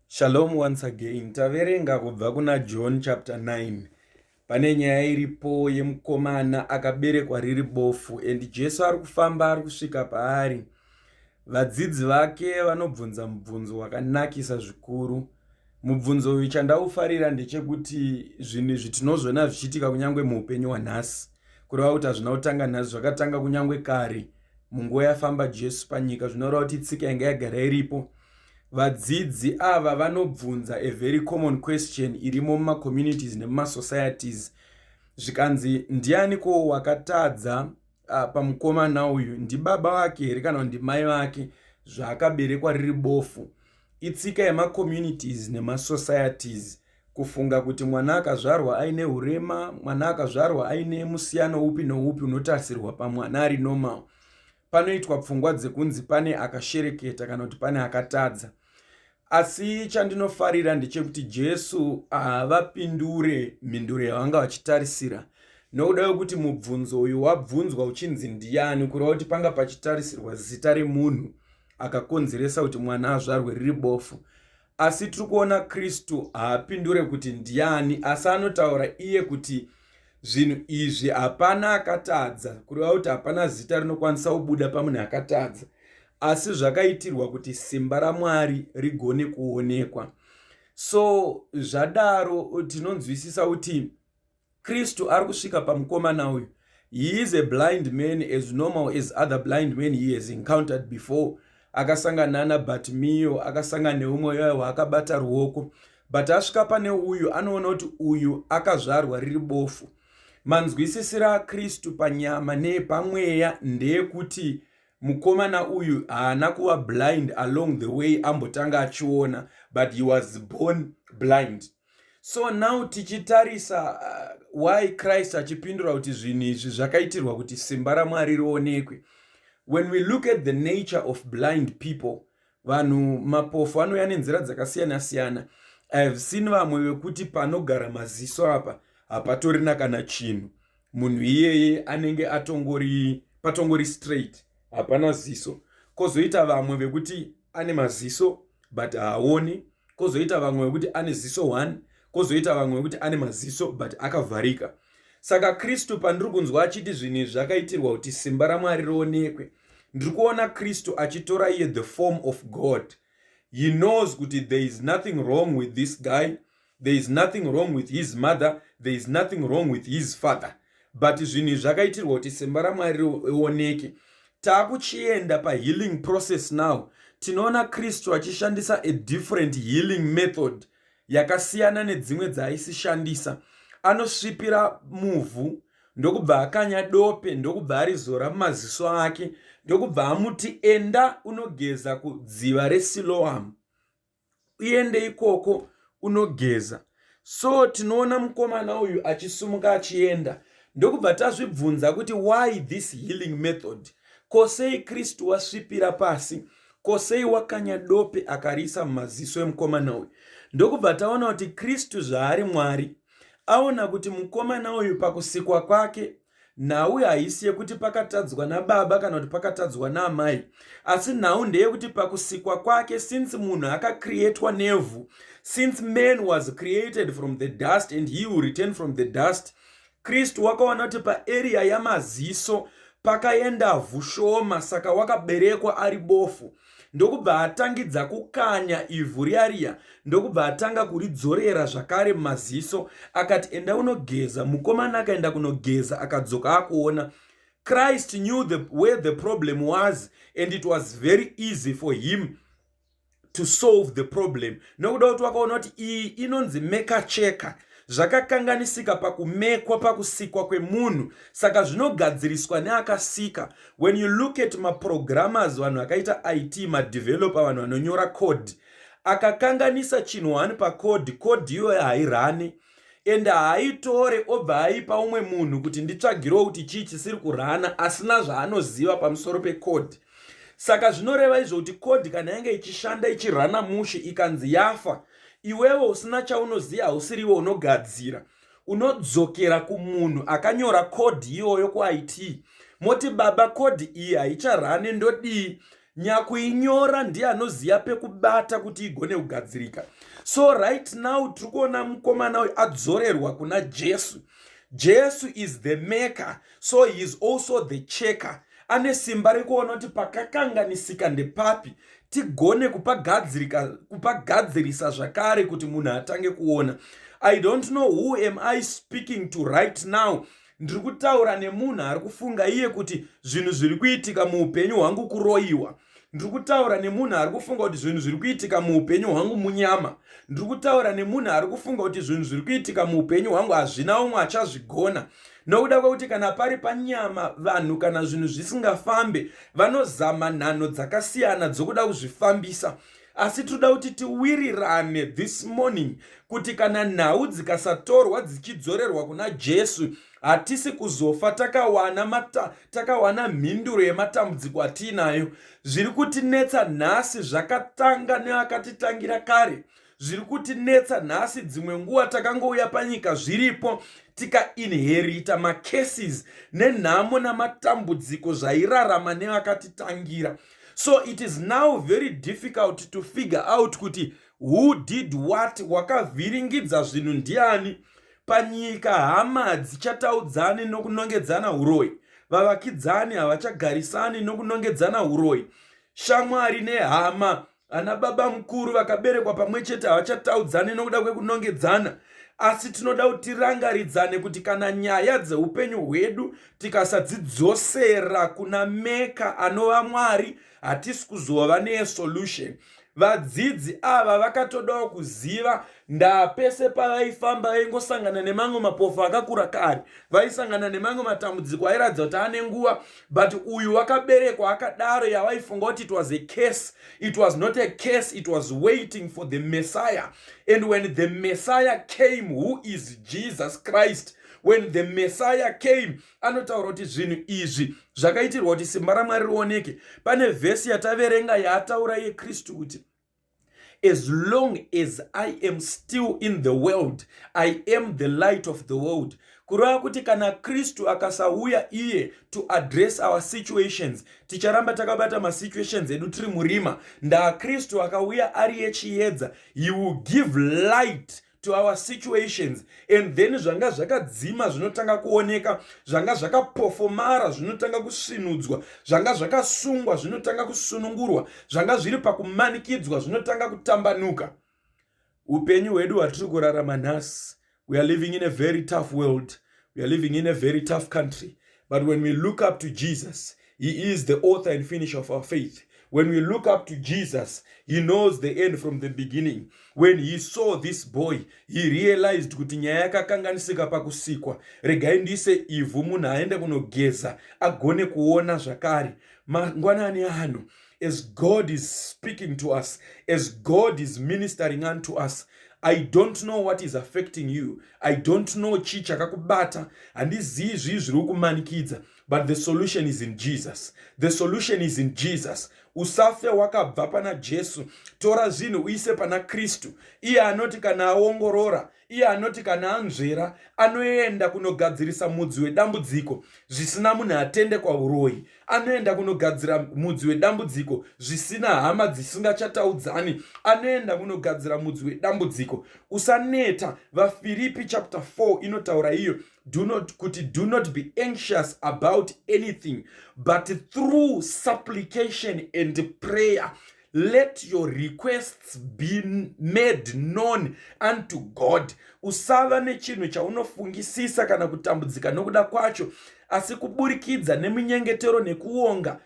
Shalom once again. Taverenga kubva kuna John chapter 9. Pane nyaya iripo yemukomana akaberekwa riri bofu and Jesu ari kufamba ari kusvika paari. Vadzidzi vake vanobvunza mubvunzo wakanakisa zvikuru. Mubvunzo uyu chandaufarira ndechekuti zvinhu izvi tinozviona zvichiitika kunyange muupenyu hwanhasi. kureva kuti hazvina kutanga nhasi zvakatanga kunyange kare munguva yafamba jesu panyika zvinoreva kuti tsika yanga yagara iripo vadzidzi ava vanobvunza a very common question irimo mumacommunities nemumasocieties zvikanzi ndiani ko wakatadza ah, pamukomana uyu ndibaba vake here kana kuti ndimai vake zvaakaberekwa riri bofu itsika yemacommunities nemasocieties nema Kufunga kuti mwana akazvarwa aine hurema, mwana akazvarwa aine musiyano upi noupi unotarisirwa pamwana ari normal. Panoitwa pfungwa dzekunzi pane akashereketa kana kuti pane akatadza. Asi chandinofarira ndechekuti Jesu havapindure mhinduro yavanga vachitarisira nokuda kwekuti mubvunzo uyu wabvunzwa uchinzi ndiyani kureva kuti panga pachitarisirwa zita remunhu akakonzeresa kuti mwana azvarwe riri bofu Asi tiri kuona Kristu haapindure kuti ndiani, asi anotaura iye kuti zvinhu izvi hapana akatadza, kureva kuti hapana zita rinokwanisa kubuda pamunhu akatadza, asi zvakaitirwa kuti simba raMwari rigone kuonekwa. So zvadaro tinonzwisisa kuti Kristu ari kusvika pamukomana uyu. He is a blind man as normal as other blind men he has encountered before. Akasangana na Bartimeo, akasangana neumwe yaye waakabata ruoko. But asvika pane uyu anoona kuti uyu akazvarwa riri bofu. Manzwisisira aKristu panyama neepamweya ndeekuti mukomana uyu haana kuva blind along the way ambotanga achiona but he was born blind. so now tichitarisa uh, why christ achipindura kuti zvinhu izvi zvakaitirwa kuti simba ramwari rionekwe when we look at the nature of blind people vanhu mapofu anouya nenzira dzakasiyana siyana i have seen vamwe vekuti panogara maziso apa hapatorina kana chinhu munhu iyeye anenge atongori patongori straight hapana ziso kozoita vamwe vekuti ane maziso but haaoni kozoita vamwe vekuti ane ziso one kozoita vamwe vekuti ane maziso but akavharika saka kristu pandiri kunzwa achiti zvinhu izvi zvakaitirwa kuti simba ramwari rionekwe ndiri kuona kristu achitora iye the form of god he knows kuti there is nothing wrong with this guy there is nothing wrong with his mother there is nothing wrong with his father but zvinhu izvi zvakaitirwa kuti simba ramwari rioneke takuchienda pahealing process now tinoona kristu achishandisa a different healing method yakasiyana nedzimwe dzaaisishandisa anosvipira muvhu ndokubva akanya dope ndokubva arizora mumaziso ake ndokubva amuti enda unogeza kudziva resiloam uende ikoko unogeza so tinoona mukomana uyu achisumuka achienda ndokubva tazvibvunza kuti why this healing method ko sei kristu wasvipira pasi ko sei wakanya dope akariisa mumaziso emukomana uyu ndokubva taona kuti kristu zvaari mwari aona kuti mukomana uyu pakusikwa kwake nhau haisi yekuti pakatadzwa nababa kana kuti pakatadzwa naamai asi nhau ndeyekuti pakusikwa kwake since munhu akacreatwa nevhu since man was created from the dust and he will return from the dust kristu wakaona kuti paarea yamaziso pakaenda vhu shoma saka wakaberekwa ari bofu ndokubva atangidza kukanya ivhu riya riya ndokubva atanga kuridzorera zvakare mumaziso akati enda unogeza mukomana akaenda kunogeza akadzoka akuona christ knew the, where the problem was and it was very easy for him to solve the problem nokuda kuti wakaona kuti iyi inonzi mekacheka zvakakanganisika pakumekwa pakusikwa kwemunhu saka zvinogadziriswa neakasika when you look at maprogrammers vanhu akaita it madeveloper vanhu vanonyora code akakanganisa chinhu one pacode code iyoyo hairane and haaitore obva aipa umwe munhu kuti nditsvagirewo kuti chii chisiri kurana asina zvaanoziva pamusoro pecode saka zvinoreva izvo kuti code kana yange ichishanda ichirana mushe ikanzi yafa iwewe usina chaunoziva hausiriwe unogadzira unodzokera kumunhu akanyora code iyoyo kuit moti baba code iyi haicharane ndodii nyakuinyora ndiye anoziva pekubata kuti igone kugadzirika so right now tiri kuona mukomana uyu adzorerwa kuna jesu jesu is the maker so he is also the checker ane simba rekuona kuti pakakanganisika ndepapi tigone kupagadzirisa zvakare kuti munhu atange kuona i don't know who am i speaking to right now ndiri kutaura nemunhu ari kufunga iye kuti zvinhu zviri kuitika muupenyu hwangu kuroyiwa ndiri kutaura nemunhu ari kufunga kuti zvinhu zviri kuitika muupenyu hwangu munyama ndiri kutaura nemunhu ari kufunga kuti zvinhu zviri kuitika muupenyu hwangu hazvina umwe achazvigona nokuda kwekuti kana pari panyama vanhu kana zvinhu zvisingafambe vanozama nhanho dzakasiyana dzokuda kuzvifambisa asi tinoda kuti tiwirirane this morning kuti kana nhau dzikasatorwa dzichidzorerwa kuna jesu hatisi kuzofa takawana, mata, takawana mhinduro yematambudziko atiinayo. Zviri kutinetsa nhasi zvakatanga neakatitangira kare zviri kutinetsa nhasi dzimwe nguva takangouya panyika zviripo tikainherita macases nenhamo namatambudziko zvairarama nevakatitangira so it is now very difficult to figure out kuti who did what wakavhiringidza zvinhu ndiani panyika hama dzichataudzani nokunongedzana uroyi vavakidzani havachagarisani nokunongedzana uroyi shamwari nehama ana baba mukuru vakaberekwa pamwe chete havachataudzani nokuda kwekunongedzana asi tinoda kuti tirangaridzane kuti kana nyaya dzeupenyu hwedu tikasadzidzosera kuna meka anova mwari hatisi kuzova nesolution Vadzidzi ava vakatodawo kuziva ndaa pese pavaifamba vaingosangana nemamwe mapofu akakura kani vaisangana nemamwe matambudziko airatidza kuti ane nguva but uyu wakaberekwa akadaro yavaifunga kuti it was a case it was not a case it was waiting for the messiah and when the messiah came who is jesus christ when the messiah came anotaura kuti zvinhu izvi zvakaitirwa kuti simba ramwari rioneke pane vhesi yataverenga yaataura yekristu kuti as long as i am still in the world i am the light of the world kureva kuti kana kristu akasauya iye to address our situations ticharamba takabata masituations edu tiri murima ndaakristu akauya ari yechiyedza he will give light to our situations and then zvanga zvakadzima zvinotanga kuoneka zvanga zvakapofomara zvinotanga kusvinudzwa zvanga zvakasungwa zvinotanga kusunungurwa zvanga zviri pakumanikidzwa zvinotanga kutambanuka upenyu hwedu hwatiri kurarama nhasi we are living in a very tough world we are living in a very tough country But when we look up to Jesus, He is the author and finisher of our faith. When we look up to Jesus, He knows the end from the beginning. When He saw this boy, He realized kuti nyaya yakakanganisika pakusikwa. Regai ndiise ivhu munhu aende kunogeza agone kuona zvakare. Mangwanani ano as God is speaking to us, as God is ministering unto us, I don't know what is affecting you. I don't know chi chakakubata. Handizivi zvii zviri kukumanikidza. But the solution is in Jesus. The solution is in Jesus. Usafe wakabva pana Jesu. Tora zvinhu uise pana Kristu. Iye anoti kana aongorora Iye anoti kana anzvera anoenda kunogadzirisa mudzi wedambudziko zvisina munhu atende kwauroyi anoenda kunogadzira mudzi wedambudziko zvisina hama dzisingachataudzani anoenda kunogadzira mudzi wedambudziko usaneta vafiripi chapter 4 inotaura iyo do not kuti do not be anxious about anything but through supplication and prayer let your requests be made known unto god usava nechinhu chaunofungisisa kana kutambudzika nokuda kwacho asi kuburikidza nemunyengetero nekuonga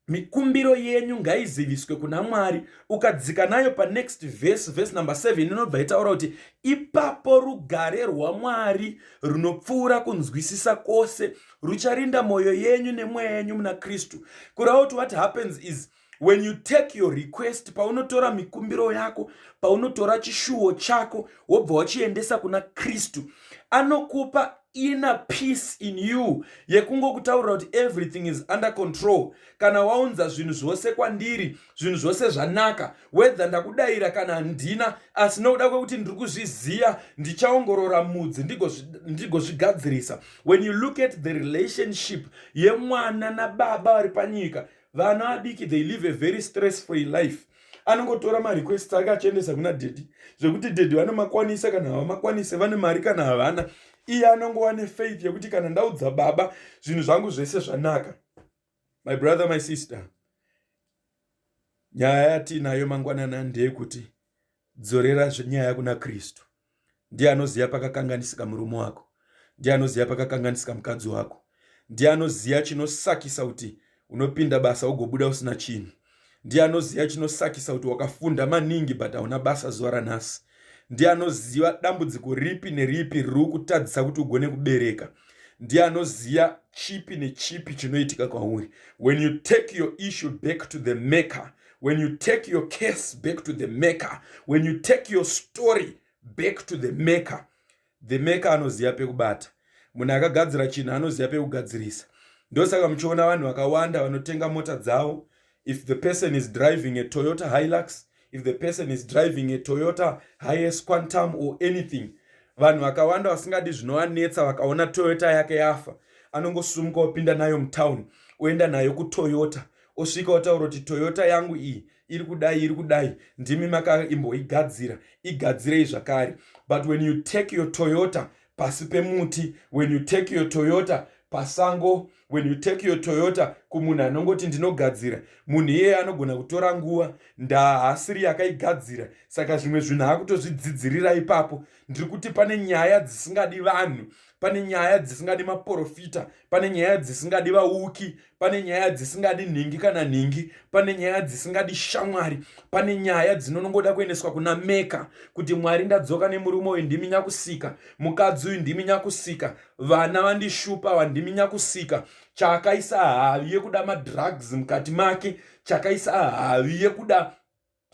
mikumbiro yenyu ngaiziviswe kuna mwari ukadzika nayo panext vhesi vhesi number 7 inobva itaura kuti ipapo rugare rwamwari runopfuura kunzwisisa kwose rucharinda moyo yenyu nemweya yenyu muna kristu kureva kuti what happens is when you take your request paunotora mikumbiro yako paunotora chishuwo chako wobva wachiendesa kuna kristu anokupa ina peace in you yekungokutaurira kuti everything is under control kana waunza zvinhu zvose kwandiri zvinhu zvose zvanaka whether ndakudaira kana handina asi nokuda kwekuti ndiri kuzviziva ndichaongorora mudzi ndigozvigadzirisa when you look at the relationship yemwana nababa vari panyika vana vadiki they live a very stress free life anongotora marequest ake achiendesa kuna dedi zvekuti dedi vanomakwanisa kana havamakwanise vane mari kana havana iye anongova nefaith yekuti kana ndaudza baba zvinhu zvangu zvese zvanaka my brother my sister nyaya yatiinayo mangwanana ndeyekuti dzorera nyaya kuna kristu ndiye anoziva pakakanganisika murume wako ndiye anoziva pakakanganisika mukadzi wako ndiye anoziva chinosakisa kuti unopinda basa ugobuda usina chinhu ndiye anoziva chinosakisa kuti wakafunda maningi but hauna basa zuva ranhasi ndiye anoziva dambudziko ripi neripi riri kutadzisa kuti ugone kubereka ndiye anoziva chipi nechipi chinoitika kwauri when you take your issue back to the maker when you take your case back to the maker when you take your story back to the maker The maker anoziva pekubata. Munhu akagadzira chinhu anoziva pekugadzirisa. Ndosaka muchiona vanhu vakawanda vanotenga mota dzavo. If the person is driving a Toyota Hilux, if the person is driving a Toyota Hiace Quantum or anything, vanhu vakawanda vasingadi zvinovanetsa vakaona Toyota yake yafa, anongosumuka opinda nayo mutown, oenda nayo kuToyota, osvika otaura kuti Toyota yangu iyi iri kudai iri kudai ndimi makaimboigadzira igadzirei zvakare but when you take your toyota pasi pemuti when you take your toyota pasango when you take your toyota kumunhu anongoti ndinogadzira munhu iyeye anogona kutora nguva ndaa haasiri yakaigadzira saka zvimwe zvinhu akutozvidzidzirira ipapo ndiri kuti pane nyaya dzisingadi vanhu pane nyaya dzisingadi maporofita pane nyaya dzisingadi vauki pane nyaya dzisingadi nhingi kana nhingi pane nyaya dzisingadi shamwari pane nyaya dzinonongoda kuendeswa kuna meka kuti mwari ndadzoka nemurume uyu ndimi nyakusika mukadzi uyu ndimi nyakusika vana vandishupa vandimi nyakusika chakaisa havi yekuda madrugs mukati make chakaisa havi yekuda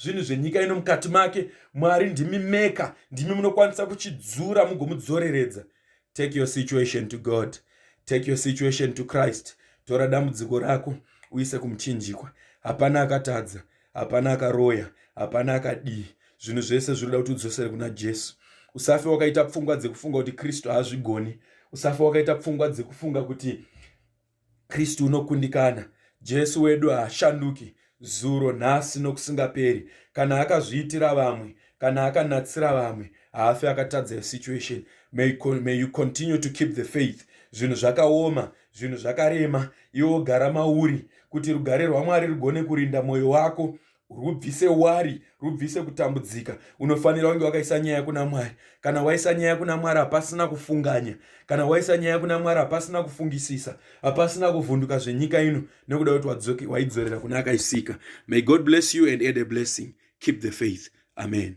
zvinhu zvenyika ino mukati make mwari ndimi meka ndimi munokwanisa kuchidzura mugomudzoreredza take your situation to god take your situation to christ tora dambudziko rako uise kumuchinjikwa hapana akatadza hapana akaroya hapana akadii zvinhu zvese zvinoda kuti udzosere kuna jesu usafe wakaita pfungwa dzekufunga kuti kristu haazvigoni usafe wakaita pfungwa dzekufunga kuti Kristu unokundikana. Jesu wedu haashanduki, zuro, nhasi nokusingaperi. Kana akazviitira vamwe, kana akanatsira vamwe, haafi akatadza your situation. May, may you continue to keep the faith. Zvinhu zvakaoma, zvinhu zvakarema, iwo gara mauri kuti rugare rwaMwari rugone kurinda mwoyo wako rubvise wari rubvise kutambudzika unofanira kunge wakaisa nyaya kuna mwari kana waisa nyaya kuna mwari hapasina kufunganya kana waisa nyaya kuna mwari hapasina kufungisisa hapasina kuvhunduka zvenyika ino nekuda kuti waidzorera kuna akaisika may god bless you and add a blessing keep the faith amen